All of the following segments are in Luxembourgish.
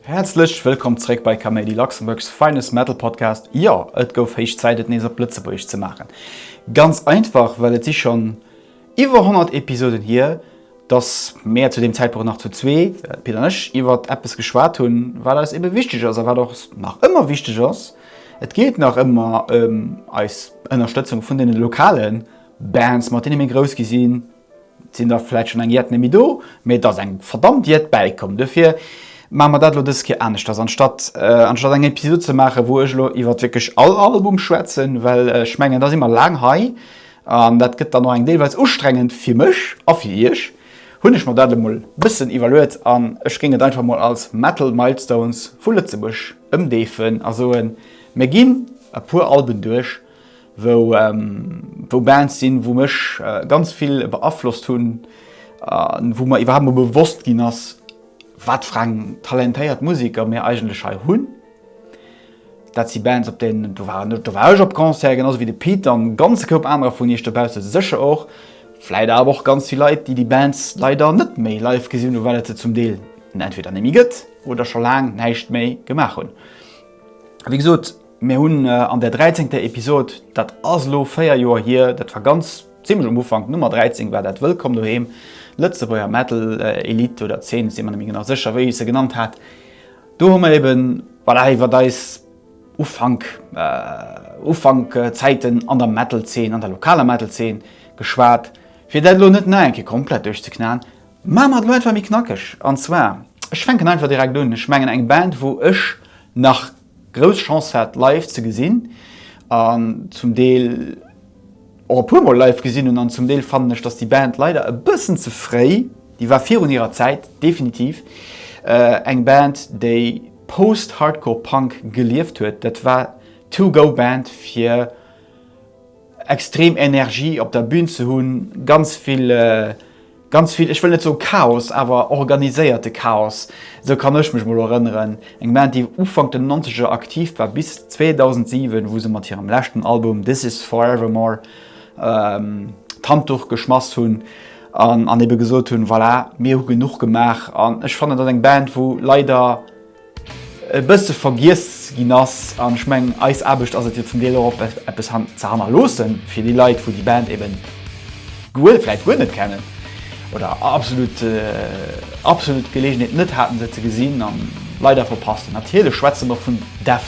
Häerzlech wëllkomm zréck bei Kaméidi, Luxembourg's finest metal podcast. Jo, et gouf héich Zäit et nees op Lëtzebuergesch ze maachen. Ganz einfach well et si schonn Iwwer 100 Episoden hier, dass mäer zu deem Zäitpunkt nach zu zwee, d'Pit an ech, iwwert eppes geschwat hunn, wat eis ebe wichteg ass a wat och nach ëmmer wichteg ass, Et geet nach ëmmer ëm eis Ënnerstëtzung vun deene lokale Bands, mat deene mir grouss gi sinn. Et sinn der vläit schonn eng Jett net méi do, mee et ass eng verdammt Jett bäikomm. Dofir maache mer dat elo dës Kéier aneschters. Anstatt, anstatt eng Episod ze maachen, wou ech elo iwwert wierklech all Album schwätzen, well ech mengen, da si mer laang hei, An dat gëtt dann och eng deelweis ustrengend, fir mech a fir iech, hunn ech mer dat elo mol bëssen iwwerluet an ech géing et einfach mol als Metal Milestones vu Lëtzebuerg ëmdeefen a soen, Mir ginn e puer Alben duerch, wou Bands sinn, wou mech ganz vill beaflosst hunn a wou mer iwwerhaapt mol bewosst ginn ass, wat fir eng talentéiert Museker mir eigentlech hei hunn. Dat si Bands op deenen, do waren ech, do war ech op Concert, genau sou wéi de Pit an e ganze Koup anerer vun iech dobausse sécher och, vläit awer och ganz vill Leit, déi déi Bands leider net méi live gesinn hunn, well et se zum Deel entweder net méi gëtt oder scho laang näischt méi gemaach hunn. A wéi gesot, mir hunn an där dräizéngter Episod, dat ass elo véier Joer hier, dat war ganz zimmlech um Ufank, d'Nummer 13 war dat, Wëllkomm doheem, d'Lëtzebuerger Metal-Elite oder Zeen, ech si mer net méi genau sécher, wéi ech se genannt hat, Do hu mer eben, voilà, iwwert eis Ufank, Ufank-Zäiten an der Metal-Zeen, an der lokaler Metal-Zeen geschwat. Fir dat elo net nach eng Kéier komplett duerchzeknaen, maache mer et elo einfach méi knackeg. An zwar, ech fänken einfach direkt un, ech mengen eng Band, wou ech nach grouss Chance hat, live ze gesinn an zum Deel, och e puer mol live gesinn hunn an zum Deel fannen ech dass déi Band leider e bëssen ze fréi, déi war virun hirer Zäit definitiv, eng Band déi Post-Hardcore Punk gelieft huet, dat war d'Two Go Band fir extrem Energie op der Bühn ze hunn, ganz vill. Ganz vill, ech wëll net soe Chaos, awer organiséierte Chaos, esou kann ech mech emol erënneren. Eng Band, déi Ufank den Nonzeger aktiv war, bis 2007, wou se mat hirem leschten Album This Is Forevermore d'Handduch geschmass hunn an ebe gesot hunn, Voilà, mir hu genuch gemaach. An ech fannen, dat ass eng Band, wou leider e bësse vergiess ginn ass. An ech mengen, eis Aarbecht ass et jo zum Deel och op eppes han ze hannerloosse fir déi Leit, wou déi Band eben guer vläit guer net kennen oder absolut absolut d'Geleegenheet net haten se ze gesinn an leider verpasst hunn. Natierlech schwätze mer vun Def.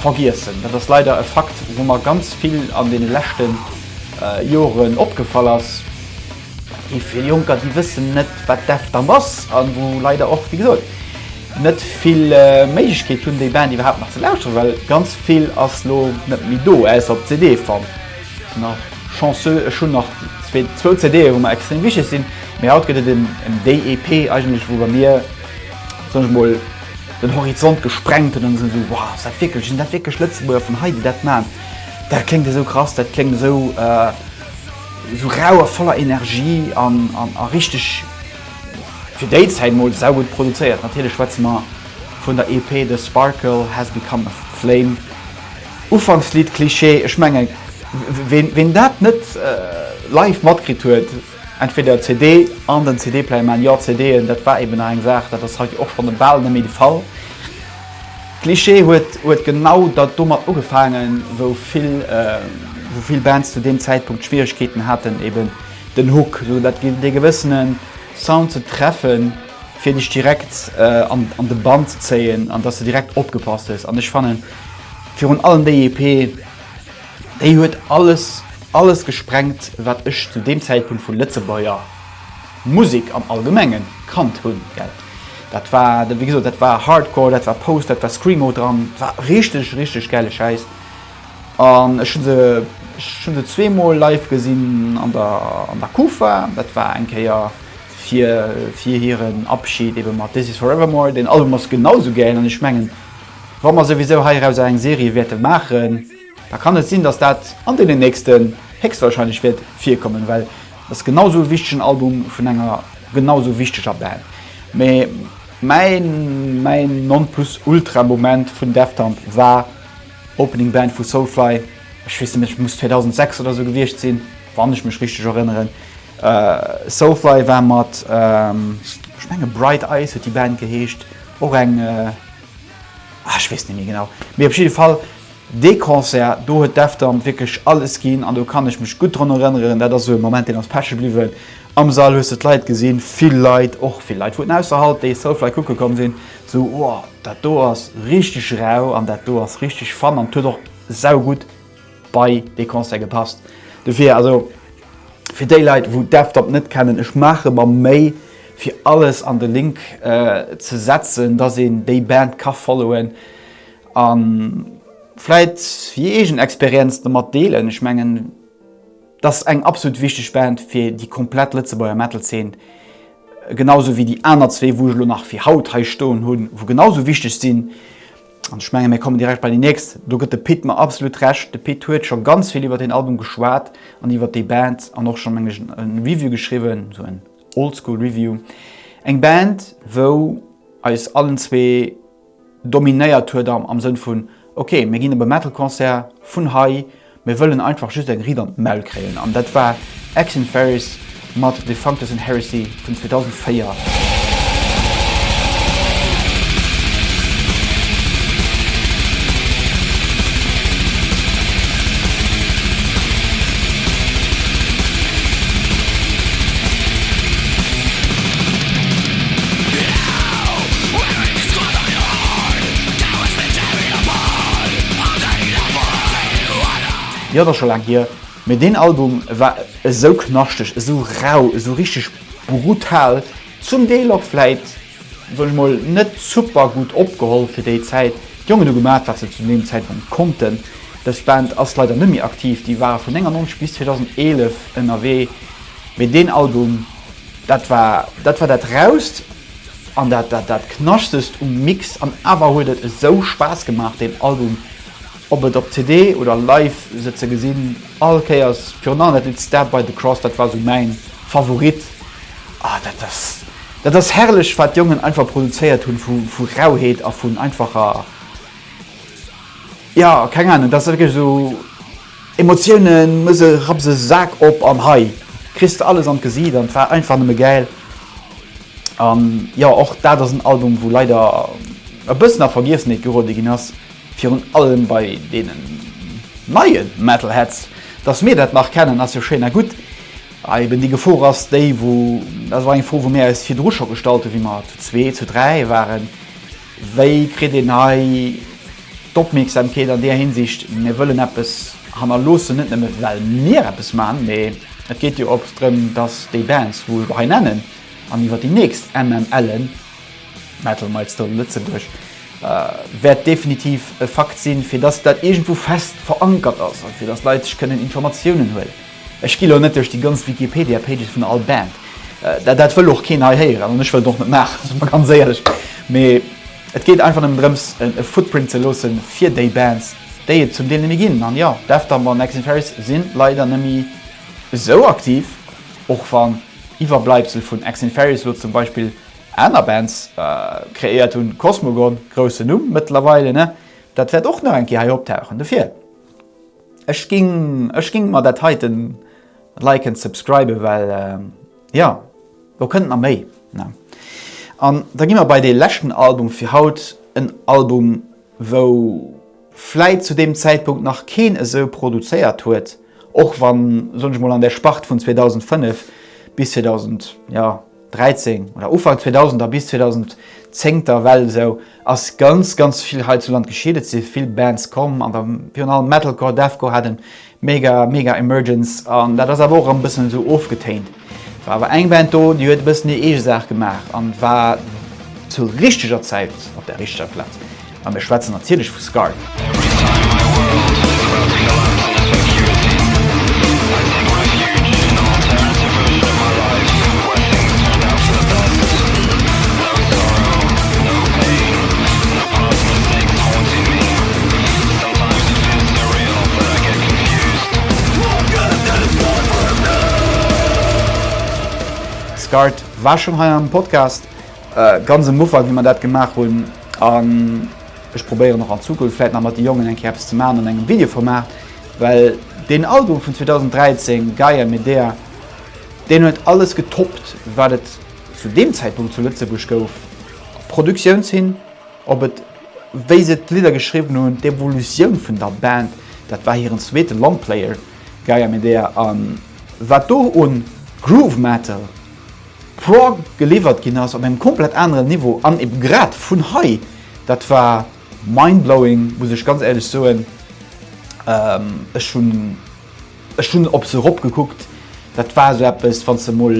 Vergiessen, dat ass leider e Fakt, wou mer ganz vill an deene leschte Joren opgefall ass. Déi vill Jonker, déi wëssen net, wat d'EFTAM ass a wou leider och, wéi gesot, net vill Méiglechkeet hunn, déi Band iwwerhaapt nach ze lauschteren, well ganz vill ass elo net méi do, ausser op CD-Form. Ech sinn nach chanceux, ech hunn nach zwou CDe, wou mer extrem wichteg sinn. Mee haut gëtt et en, en, déi EP eigentlech, wou bei mir, soen ech emol, den Horizont gesprengt hunn an sinn esou, wow, ass dat wierklech, sinn dat wierklech Lëtzebuerger vun hei, déi dat maachen? Dat kléngt esou krass, dat kléngt esou, esou rau a voller Energie an, an a richteg, fir déi Zäit emol, saugutt produzéiert. Natierlech schwätze mer vun der EP The Sparkle Has Become A Flame. Ufankslidd, Klischee, ech menge ween dat net live matkritt huet, Entweder CD an den CD-Player. Mä jo, CDen, dat war eben nach eng Saach, dat ass haut och schonn bal net méi de Fall. D'Cliché huet huet genau da domat ugefaangen, wou vill wou vill Bands zu deem Zäitpunkt Schwieregkeeten haten, eben den Hook, esou dat gin dee gewëssene Sound ze treffen, fir dech direkt an an de Bann ze zéien an dass de direkt opgepasst hues. An ech fannen virun allem déi EP. Déi huet alles, alles gesprengt, wat ech zu deem Zäitpunkt vu Lëtzebuerger Musek am Allgemenge kannt hunn. Dat war, wéi gesot, dat war Hardcore, dat war Post, dat war Screamo dran. Dat war richteg, richteg gäile Schäiss. An ech hu se, ech hu se zweemol live gesinn an der, an der Kufa. Dat war eng Kéier fir, fir hiren Abschid ebe mat This Is Forevermore. Deen Album ass genau esou gäil an ech mengen, wa mer souwisou heirausser eng Serie wäerte maachen, da kann et sinn, dass dat an deenen nächsten héchstwahrscheinlech wäert virkommen, well et ass genau esou e wichtegen Album vun enger genau esou wichteger Band. Mee mäi mäin Non-plus-ultra-Moment vun Deftamp war Opening Band vu Soulfly, ech weess net méi, et muss 2006 oder esou gewiescht sinn, wann ech mech richteg erënneren. Soulfly war mat, ech menge Bright Eyes huet déi Band geheescht, och eng, ah ech weess net méi genau. Mee op jidde Fall Dee Concert, do huet Deftown wierklech alles ginn an do kann ech mech gutt drun erënneren. Dat ass esou e Moment, deen ass peche bliwwen. Am Sall hues de d'Leit gesinn, vill Leit, och vill Leit vun ausserhalb, déi Soulfly kucke komm sinn, sou, Wow, dat do ass richteg rau an dat do ass richteg fun an et huet och saugutt bei dee Concert gepasst. Dofir, also fir déi Leit, wou Deftown net kennen, ech maache mer Méi, fir alles an de Link ze setzen, dass een déi Band ka followen. A vläit hir eegen Experienz domat deelen. Ech mengen, et ass eng absolut wichteg Band fir déi komplett Lëtzebuerger Metal-Zeen, genau sou wéi déi aner zwee, wou ech elo nach fir haut hei stoen hunn, wou genau sou wichteg sinn. An ech menge mir kommen direkt bei déi nächst. Do gëtt de Pit mer absolut Recht. De Pit huet scho ganz vill iwwer deen Album geschwat an iwwer déi Band an och scho, meng ech, e Review geschriwwen, esou en Oldschool-Review. Eng Band, wou eis allen zwee. dominéiert huet am Sënn vun, ok, mir ginn op e Metal-Concert vun hei, mir wëllen einfach just eng Ried an d'Maul kréien. An dat war Ex in Ferris mat The Functus and Heresy vun 2004. Jo, et ass scho laang hier, mee deen Album war esou knaschteg, esou rau, esou richteg brutal. Zum Deel och vläit, soen ech mol, net super gutt opgeholl fir déi Zäit. D'Jongen hu gemaat, wat se zu deem Zäitpunkt konnten. Dës Band ass leider net méi aktiv, déi ware vun 99 bis 2011 ënnerwee, mee deen Album, dat war dat war dat Rauhst. An dat dat dat knaschtest um Mix an awer huet et esou Spaass gemaach deen Album op et op CD oder live se ze gesinn all Kéiers virun allem dat Lidd Stabbed by the Cross dat war sou mäin Favorit ah dat ass dat ass herrlech wat d'Jongen einfach produzéiert hunn vu vu Rauheet a vun einfacher ja keng Ahnung dat ass wierklech sou. Emotiounen muss e rapps e Sak op an hei kriss de alles an d'Gesiit an et war einfach nëmme gäil an jo och dat ass en Album wou leider e bëssen a Vergiessenheet geruede ginn ass, virun allem bei deenen neie Metalheads. Dass mir dat nach kennen ass jo schéin a gutt, a eben déi Gefor ass déi wou, dat war eng Fro wou mir eis virdru scho gestallt hu wéi mer zu zwee, zu dräi waren, Wéi kritt een hei d'Opmierksamkeet an där Hinsicht, mir wëllen eppes hannerloossen, net nëmme well mir eppes maachen, mä et geet jo och drëm, datt déi Bands, wou ech och hei nennen, an iwwer déi nächst MML'en, Metal Milestone Lëtzebuerg, wäert definitiv e Fakt sinn, fir datt dat iergendwou fest verankert ass a fir datt d'Leit sech kënnen Informatiounen huelen. Ech gi lo net duerch déi ganz Wikipedia-Pages vun all Band, dat wëll och keen hei héieren an ech wëll et och net maachen, si mer ganz éierlech. Mee et geet einfach nëmmen drëms, e Footprint ze loosse fir déi Bands, déi et zum Deel nëmme ginn. An jo, Deftown an Exinferis si leider nëmme esou aktiv, och wann Iwwerbleibsel vun Exinferis lo zum Beispill aner Bands kreéiert hunn, Cosmogon, groussen Numm mëttlerweile, dat wäert och nach eng Kéier hei optauchen. Dofir. Ech ging ech ging mer dat heiten liken subscriben well jo lo kënnt na méi ne an da gi mer bei dee leschten Album fir haut en Album wou vläit zu deem Zäitpunkt nach keen esou produzéiert huet och wann soen ech mol an der Spart vun 2005 bis 2000 jo. 2013 oder Ufank 2000er bis 2010 der Well esou ass ganz ganz vill hei zu Land geschitt. Et si vill Bands komm an virun allem Metalcore, Deathcore hat e mega mega Emergence an dat ass awer och erëm e bëssen esou ofgetéint. Et war awer eng Band do déi huet e bëssen hir eege Saach gemaach an war zur richteger Zäit op der richteger Plaz. A mir schwätzen natierlech vu Scarred. Scarred war schonn hei am Podcast, ganz am Ufank, wéi mer dat gemaach hunn. An ech probéieren och an Zukunft vläit nach mat de Jongen eng Kéier eppes ze maachen an engem Videoformat, well deen Album vun 2013, Gaia Medea, deen huet alles getoppt, wat et zu deem Zäitpunkt zu Lëtzebuerg gouf. Op Produktioun hin, op et, wéi se d'Lidder geschriwwen hunn, d'Evolutioun vun der Band, dat war hiren zweete Longplayer, Gaia Medea, a wat do un Groove Metal, Prog geliwwert ginn ass op engem komplett aneren Niveau an ebe grad vun hei, dat war mindblowing, muss ech ganz éierlech soen. Ech hunn ech hunn op se erop gekuckt, dat war esou eppes, wann s de emol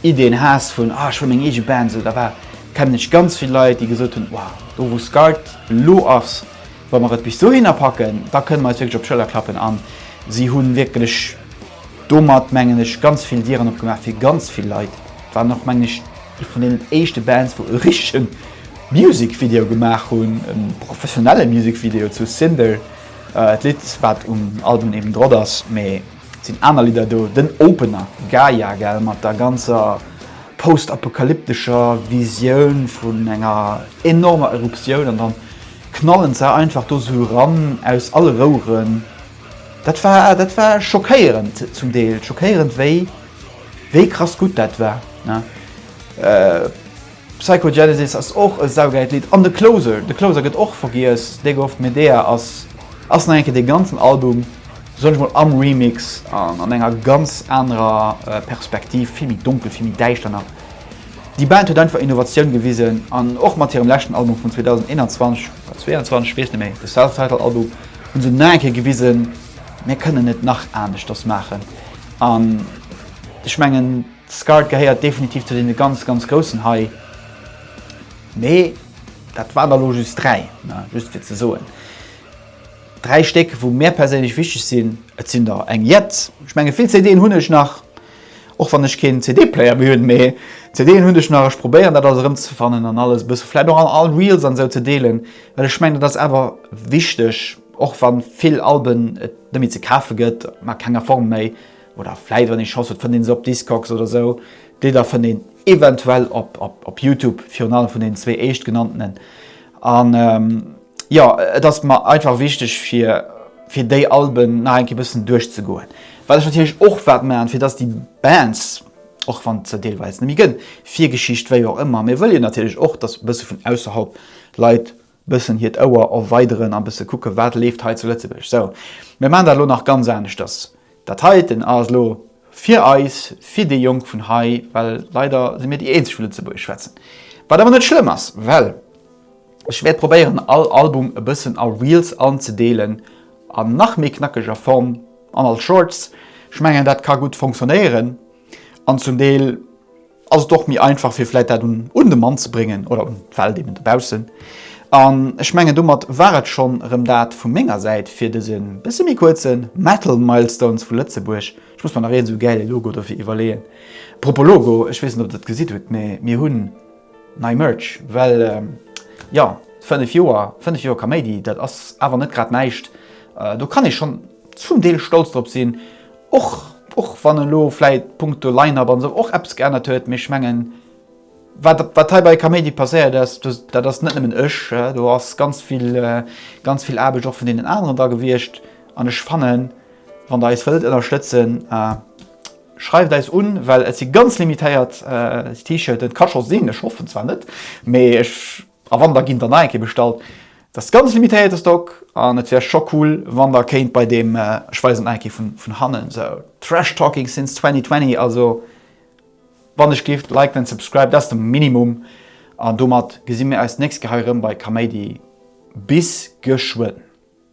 Ideen has vun, ah ech wëll meng eege Band, esou da war, kennen ech ganz vill Leit, déi gesot hunn, wow, do wou Scart elo ass, wa mer et bis dohinner packen, da kënne mer eis wierklech op d'Schëller klappen an si hu wierklech, Domat, mengen ech, ganz vill Dieren opgemaach fir ganz vill Leit. Et waren och, mengen ech, ee vun deenen éischte Bands, wou e richtege Music Video gemaach hunn, e professionelle Music Video zu Cinder, d'Lidd, wat um Album eben drop ass. Mee et sinn aner Lidder do, den Opener Gaia, gell, mat der ganzer postapokalyptescher Visioun vun enger enormer Eruptioun, an dann knallen se einfach do sou eran aus alle Roueren. Dat war dat war schockéierend zum Deel schockéierend wéi wéi krass gutt dat war ne Psychogenesis ass och e saugeil Lidd an de Closer de Closer gëtt och vergiess Dago of Medea ass ass nach eng Kéier dee ganzen Album soll ech mol am Remix an an enger ganz anerer Perspektiv vill méi donkel vill méi däischter nach Déi Band huet einfach Innovatioun gewisen an och mat hirem leschten Album vun 2021 oder 22 ech weess net méi de Self-Titled Album hunn se nach eng Kéier gewisen, Mir kënnen et nach aneschters maachen. An ech mengen, d'Scart gehéiert definitiv zu deene ganz, ganz Groussen hei. Mee dat waren der elo just dräi, just fir ze soen, dräi Stéck, wou mär perséinlech wichteg sinn. Et sinn der eng jett, ech menge vill CDen hunn ech nach. Och wann ech keen CD-Player méi hunn, mee CD'en hunn, ech nach, ech probéieren dat alles erëmzefannen an alles e bësse vläit och an all Reels an esou ze deelen, well ech mengen dat ass awer wichteg, och wa vill Alben et net méi ze kafe gëtt, an a kenger Form méi, oder vläit wann ee Chance huet fënnt ee se op Discogs oder esou, déi Lidder fënnt een eventuell op Youtube, virun allem vun deenen zwee éischtgenanntenen an. Jo, et ass mer einfach wichteg fir fir déi Alben nach eng Kéier bëssen duerchzegoen, wat ech natierlech och wat maachen, fir dass déi Bands, och wann se deelweis net méi gëtt, Virgeschicht, wéi och ëmmer, mir wëlle jo natierlech och, dass bësse vun ausserhalb Leit bëssen hiert Ouer erweideren a bësse kucken, wat leeft hei zu Lëtzebuerg. Sou, mir maachen dat elo nach ganz aneschters. Dat heiten ass elo fir eis, fir déi Jonk vun hei, well leider si mir déi eenzeg vu Lëtzebuergesch schwätzen. Wat awer net schlëmm ass, well ech wäert probéieren all Album e bëssen a Reels anzedeelen an nach méi knackeger Form an als Shorts. Ech mengen dat ka gutt fonctionnéieren an zum Deel. ass et och méi einfach fir vläit dat un de Mann ze bréngen oder un d'Welt eben dobaussen. An ech mengen domat war et schonn erëm dat vu menger Säit fir dëse bësse méi kuerze Metal Milestones vu Lëtzebuerg. Ech muss mer nach een esou gäile Logo dofir iwwerleeën. Propos Logo, ech weess net ob der et gesitt hutt, mee mir hunn nei Merch, well jo, 5 Joer, 5 Joer Kaméidi, dat ass awer net grad näischt. Do kann ee schonn zum Deel stolz drop sinn. Och och wann en elo vläit punkto Line-Up an esou och eppes geännert huet, mee ech mengen wat wat hei bei Kaméidi passéiert ass, dass dat ass net nëmmen ech, do ass ganz vill ganz vill Aarbecht och vun deenen aneren dra gewiescht an ech fannen wann Der eis wëllt ënnerstëtzen, schreift eis un, well et si ganz limitéiert T-Shirten, et ka scho sinn, ech hoffen zwar net, mee ech. A wann der ginn der nach eng Kéier bestallt. Dat ass ganz limitéierte Stock an et wär scho cool wann der kéint bei deem, ech weisen nach eng Kéier vun hannen, sou Trash Talking since 2020, also wann ech giff liken and subscriben, dat ass de Minimum an domat gesi mir eis d'nächst Kéier hei erëm bei Kaméidi. Bis geschwënn.